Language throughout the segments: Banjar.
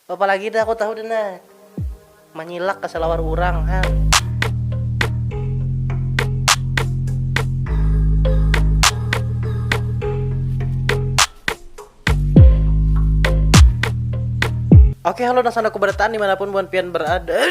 Apa lagi dah aku tahu dina. Manyilak ka salawar urang han. Oke halo nang sandaku barataan dimanapun buhan pian berada.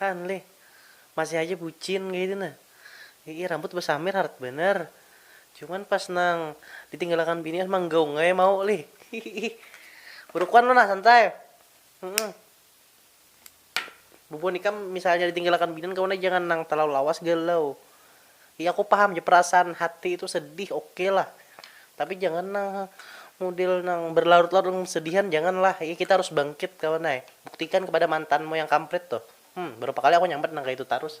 Han lih, masih haja bucin kaytu nah. Iih rambut basamir harat banar. Cuman pas nang ditinggalakan bini an manggaung ai mau lih. Hihiih. Burukuan lo nah santai. Humm. Bubuhan ikam misalnya ditinggalakan bini an kawan ai jangan nang talalu lawas galau. Iya aku paham ja perasaan hati itu sedih ok lah tapi jangan nang mudel nang berlarut larut dalam kesedihan jangan lah iya kita harus bangkit kawan ai buktikan kepada mantanmu yang kampret tuh hmm berapa kali aku nyambat nang kaya itu tarus.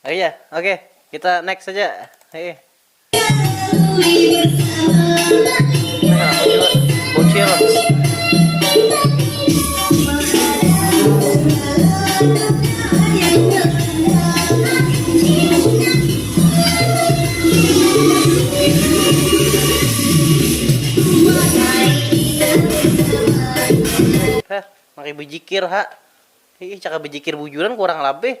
Oke ya, oke. Kita next saja. Hei. Bocil. Hah, mari bejikir, ha. Ih, cara bejikir bujuran kurang labih.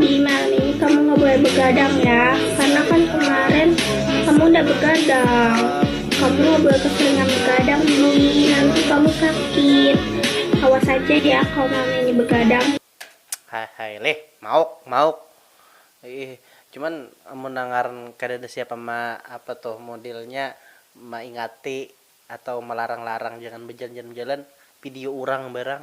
Dina nih kamu nggak boleh begadang ya karena kan kemarin kamu udah begadang kamu nggak boleh keseringan begadang nih nanti kamu sakit awas aja ya kalau mami ini begadang Hai hai leh mauk mauk iih cuman amun nangaran kada ada siapa ma apa tuh modelnya maingati atau malarang larang jangan bejalan jalan bejalan video urang barang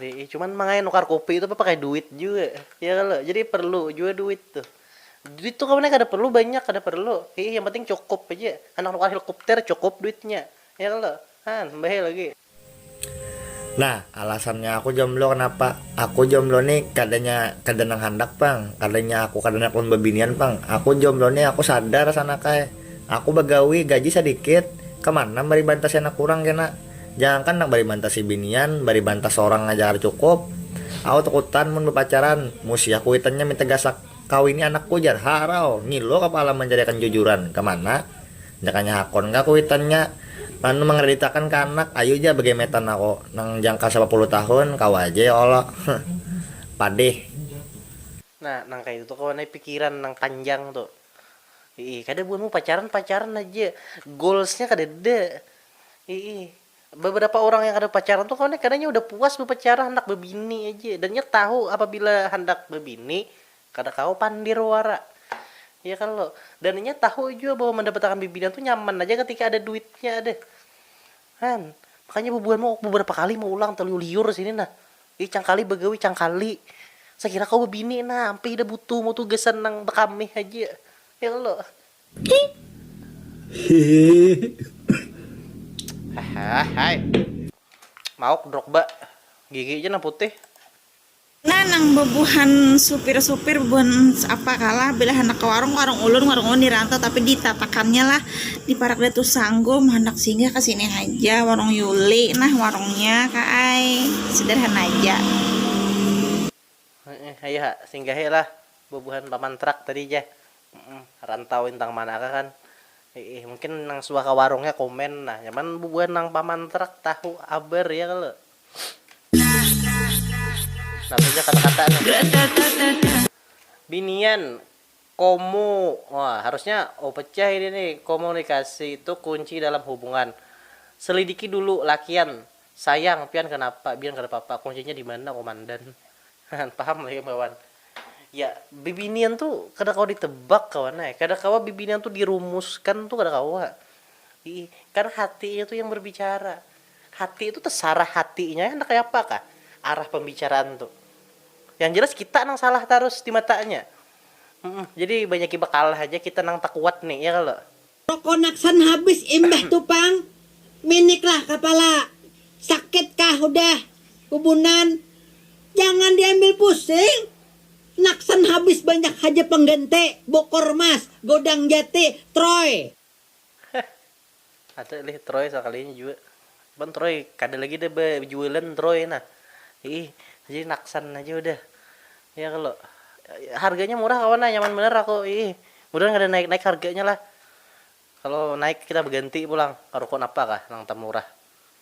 Nih cuman mangaya nukar kopi itu pakai duit jua ya kalo jadi perlu jua duit tuh duit tuh kawan nya kada perlu banyak kada perlu hiih yang penting cukup haja handak nukar hilkupter cukup duitnya ya kalo han mbahai lagi. Nah alasannya aku jomblo kenapa aku jomblo nih kada nya kada nang handak pang kada nya aku kada handak ulun babinian pang aku jomblo nih aku sadar sanakay aku bagawi gaji sadikit kemana mari bantas anak urang kena Jangankan nang bari mantah sibinian, bari mantah sorang haja kada cukup. Au takutan mun bapacaran, musiah kuitannya minta gasak, kawini anakku jar, harau, ngilu kapala mancariakan jujuran, kamana? Jakanya hakun kah kuitannya anu mangraditakan ka anak, ayu ja bagemetan aku nang jangka sapapuluh tahun, kawa ja ya Allah, huh. Padih. Nah, nang kaya itu tu kawan ai pikiran nang panjang tu. Iih, kada buhanmu pacaran pacaran haja. Goals-nya kadada. Iih, beberapa orang yang kada pacaran tu kawan ai kadanya udah puas bapacaran handak babini aja. Dan inya tahu apabila handak babini kada kawa pandir wara. Iya kalo. Dan inya tahu jua bahwa mandapatakan bibinian tu nyaman haja katika ada duitnya ada. Kan. Makanya bubuhan mau beberapa kali maulang taliur liur sini nah. Ih cangkali bagawi cangkali. Sakira kawa babini nah, ampih idah butuh mau tuh gasan nang bakamih haja. Ya kalo. Hahahahai. Mauk drogba. Gigi ja nang putih. Nah, nang bebuhan supir-supir, bebuhan apa kalah, bila handak ke warung, warung ulun, warung ulun di rantau, tapi di tatakannya lah, di parak Datu Sanggum, handak singgah ke sini haja, warung Yuli nah warungnya ka ai, sederhana haja. Heeh, hayu ha, singgahi lah bebuhan paman trak tadi ja, heeh, rantau intang mana kah kan, hiih, mungkin nang suah ke warungnya komen nah, nyaman bebuhan nang paman trak tahu habar ya kalo. Namanya kata-kata nih. Binian, komu. Wah, harusnya oh pecah ini nih. Komunikasi itu kunci dalam hubungan. Selidiki dulu lakian. Sayang, pian kanapa? Bian kada papa. Kuncinya di mana, Komandan? Paham lah ikam kawan. Ya, bibinian tu kada kawa ditebak kawan ai. Kada kawa bibinian tu dirumuskan tu kada kawa. Ih, kan hatinya tu yang berbicara. Hati itu tesarah hatinya handak kaya apa kah arah pembicaraan tu. Yang jelas kita nang salah tarus di matanya. Jadi banyaki bakalah haja kita nang takuat ni, ya kalo? Pakonaksan habis imbah tu pang minik lah kapala. Sakit kah hudah bubunan? Jangan diambil pusing. Naksan habis banyak haja pengganti, bokor mas, godang jati, troy. Ada lih troy sakalinya jua cuman troy kada lagi dah bajualan troy nah iih jadi naksan haja udah ya kalo harganya murah kawan nah nyaman banar aku iih mudahan kada naik naik harganya lah kalo naik kita baganti pulang ka ruko napa kah nang tamurah.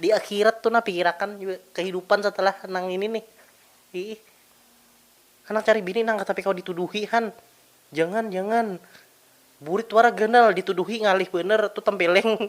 Di akhirat tu nah pikirakan jua kahidupan setelah nang ini nih iih. Handak cari bini nang tapi kawa dituduhi han. Jangan jangan. Burit wara ganal dituduhi ngalih banar tu tempeleng.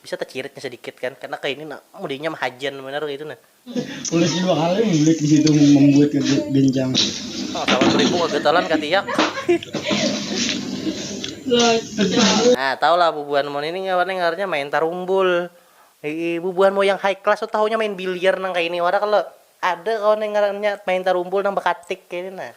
Bisa taciritnya sadikit kan karna kaini nah mudinya mahajan banar kaitu nah. Ulasnya dua kali membulik di situ membuat kegencang. Nah sawan beribu kagatalan katiak. Nah tahu lah bubuhan mun ini apa nih ngarannya main tarumbul. Iih bubuhan mu yang high class tu tahunya main biliar nang kaini wara kalo. Ada kawan yang ngarannya main tarumbul nang bakatik kaini nah.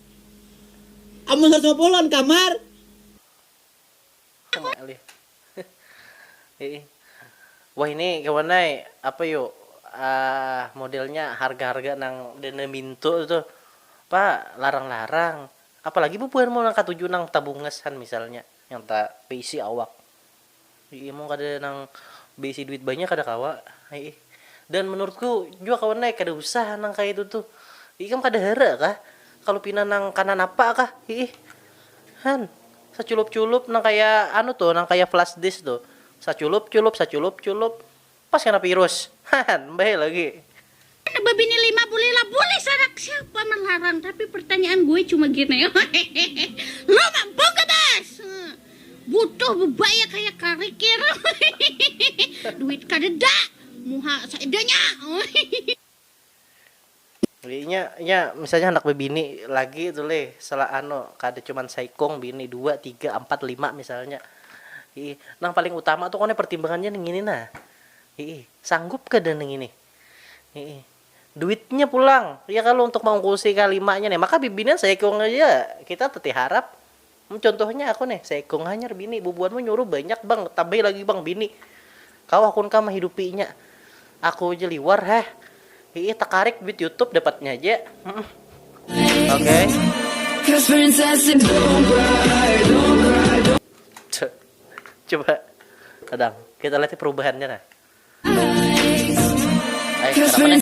Amun saratus lima puluh lawan kamar. Wah ini kawan ai apa yu modelnya harga harga nang denda minto tu tuh apa larang larang apalagi bubuhan mau nang katuju nang tabungas han misalnya yang ta baisi awak Iih mun kada nang beisi duit banyak kada kawa iih dan menurutku jua kawan ne kada usah nang kaya itu tuh ikam kada hara kah kalu pina nang kana napa kah iih han saculup culup nang kaya anu tuh nang kaya flash disk tuh saculup culup saculup culup. Pas kena virus. Hahan, mbae lagi. Anak babini lima boleh lah boleh sanak siapa melarang tapi pertanyaan gue cuma gini lo mampu gak bas butuh bebaya kayak karikir duit kadeda muha seadanya Inya inya misalnya handak bebini lagi tu leh sela anu kada cuman saikung bini dua tiga ampat lima misalnya iih nang paling utama tu kone pertimbangannya nih ngini nah iih sanggup kada nih ngini iih duitnya pulang ya kalo untuk maungkusi kalimanya nih maka bibinian saikung haja kita teteh harap. Mun contohnya aku nih, seikung hanyar bini, bubuhanmu nyuruh banyak bang, tambahi lagi bang bini, kawa kun kah mahidupinya, aku ja liwar heh, hiih takarik duit youtube dapatnya ja, humm oke. Coba kadang kita lihat perubahannya nah. Hai kenapa neh.